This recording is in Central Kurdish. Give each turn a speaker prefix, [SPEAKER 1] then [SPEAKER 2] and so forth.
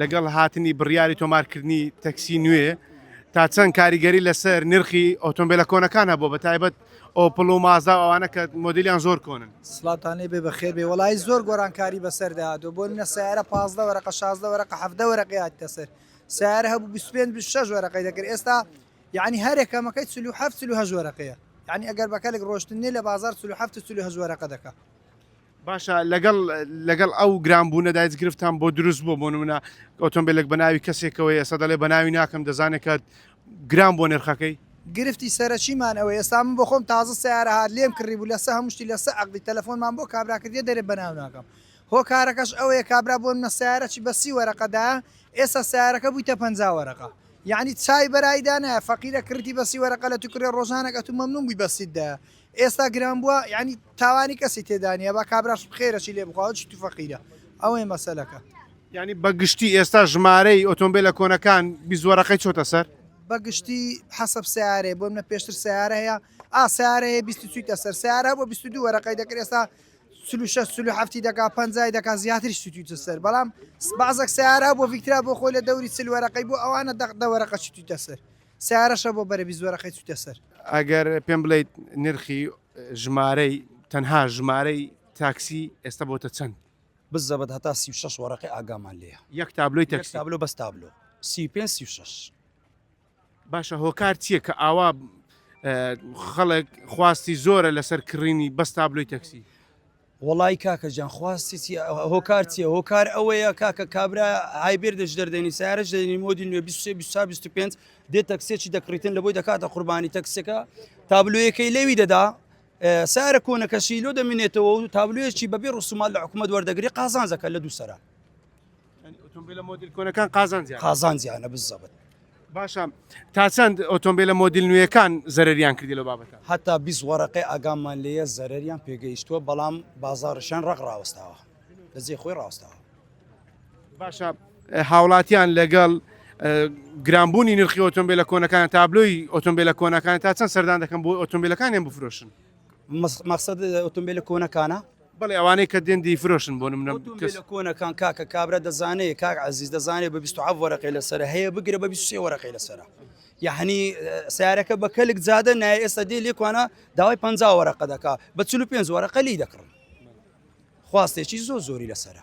[SPEAKER 1] لەگەڵ هاتنی بڕیاری تۆمارکردنی تەکسی نوێ، تا چەند کاریگەری لەسەر نرخی ئۆتۆمبێلە کۆنەکان هەبووە، بەتایبەت ئۆپڵ و مازدا و ئەوانە کە مۆدیلیان زۆر کۆنن؟ سڵاوتان لێبێ بەخێر
[SPEAKER 2] بێ وەڵایی زۆر گۆڕانکاری بەسەردا هاتووە بۆ نمونە سەیارە پازدە وەرەقە شازدە وەرەقە حەڤدە وەرەقەی هاتیتە سەر سەیارە هەبوو بیست و پێنج بیست و شەش وەرەقەی دەکرد ئێستا یەعنی هەر یەکەمەکەی چل و حەفت چل و هەشت وەرەقەیە یەعنی ئەگەر بە کەلک ڕۆشتن نیە لە بازاڕ چل و حەفت و چل و هەشت وەرەقە دەکا. باشە
[SPEAKER 1] لەگەڵ لەگەڵ ئەو گران بوونە دایت گرفتان بۆ دروست بوو بۆ نمونە ئۆتۆمبیلێک بە ناوی کەسێکەوەی ئێستا دەڵێ بە ناوی ناکەم دەزانێت کە گران بۆ نرخەکەی گرفتی سەرەکیمان
[SPEAKER 2] ئەوەیە ئێستا من بۆخۆم تازە سەیارە هات لێم کڕیبوو لەسە هەموو شتی لەسە عەقدی تەلەفۆنمان بۆ کابرا کردیە دەرێ بەناو ناکەم هۆکارەکەش ئەوەیە کابرا بۆ نمونە سەیارەکی بە سی وەرەقەدایە ئێستا سەیارەکە بوویتە پەنجا وەرەقە یەعنی چاوی بەرایی دانایە فەقیرە کڕیتی بە سی وەرەقە لەتوو کڕیە ڕۆژانێک ئەتوو مەمنوون بووی بە سیت دایە ئێستا گران بوە یانی تاوانی کەسی تێدانیە با کابراش بخێرە چی لێ بخوا چی تو فەقیرە ئەوەیە مەسەلەکە. یانی بە
[SPEAKER 1] گشتی ئێستا ژمارەی ئۆتۆمبیلە کۆنەکان بیست وەرەقەی چۆتە سەر؟ بە گشتی
[SPEAKER 2] حەسەب سەیارەیە بۆ منە پێشتر سەیارە هەیە ئا سەیارە هەیە بیست چویتە سەر سەیارە بۆ بیست دو وەرەقەی دەکرد ئێستا سلو شەش سلو هەفتی دەکا پەنجای دەکا زیاتریش چویتە سەر بەڵام بەعزەک سەیارە بۆ ڤیکترا بۆ خۆی لە دەوری چل وەرەقەی بۆ ئەوانە دەق دە وەرەقە چویتە سەر سەیارەشە بۆ بەرە بیست وەرەقەی چوویتە سەر. ئەگەر پێم بڵێیت
[SPEAKER 1] نرخی ژمارەی تەنها ژمارەی تاکسی ئێستا بۆتە چەند؟ بزەبت هەتا
[SPEAKER 3] سی و شەش وەرەقەی ئاگامان لێیە. یەک تابلۆی تاکسی؟ یەک
[SPEAKER 1] تابلۆ بەس تابلۆ
[SPEAKER 3] سی و پێنج سی و شەش.
[SPEAKER 1] باشە هۆکار چییە کە ئاوا خەڵک خواستی زۆرە لەسەر کڕینی بەس تابلۆی تاکسی؟ وەڵایی
[SPEAKER 3] کاکە جان خواستی چیە هۆکار چیە هۆکار ئەوەیە کاکە کابرا هایبێر دەژدەر دەنی سارش دەنی مۆدی نوێ 25 دێ تەکسێکی دەکڕیتن لە بۆی دەکاتە قوربانی تەکسەکە تابلوەکەی لەوی دەدا سارە کۆنەکەشی لۆ دەمینێتەوە و تابلوێکی بەبێ ڕسومال لە حکوومەت وەردەگری قازانجەکە لە دووسرە ئۆتۆمبیلە
[SPEAKER 1] مۆدیل کۆنەکان قازانجی قازانجیانە
[SPEAKER 3] بزەبت باشە
[SPEAKER 1] تا چەند ئۆتۆمبیلە مۆدیل نوێیەکان زەرریان کردی لە بابەت هەتا بیست وەرەقی
[SPEAKER 3] ئاگامان لێە زەرریان پێگەیشتووە بەڵام بازارشان ڕق ڕاوستاوە لەجێ خۆی ڕاستاوە
[SPEAKER 1] باشە هاوڵاتیان لەگەڵ گرانبوونی نرخی ئۆتۆمبیلە کۆنەکان تابلۆی ئۆتۆمبیلە کۆنەکان تا چەند سەردان دەکەم بۆ ئۆتۆمبیلەکانیان بفرۆشن مەقسەد
[SPEAKER 3] ئۆتۆمبێلە کۆنەکانە؟ بەڵێ ئەوانەی کە
[SPEAKER 1] دێن دەیفرۆشن بۆ نمونە کەس. ئۆتۆمبێلە کۆنەکان کاکە
[SPEAKER 3] کابرا دەزانێ کاک عەزیز دەزانێ بە بیست و حەفت وەرەقەی لەسەرە هەیە بگرە بە بیست و سێ وەرەقەی لەسەرە یعنی سیارەکە بە کەلک زادە نایە ئێستا دێ لێکوانە داوای پەنج وەرەقە دەکا بە چل و پێنج وەرەقە لی دەکڕن خواستێکی زۆر زۆری لەسەرە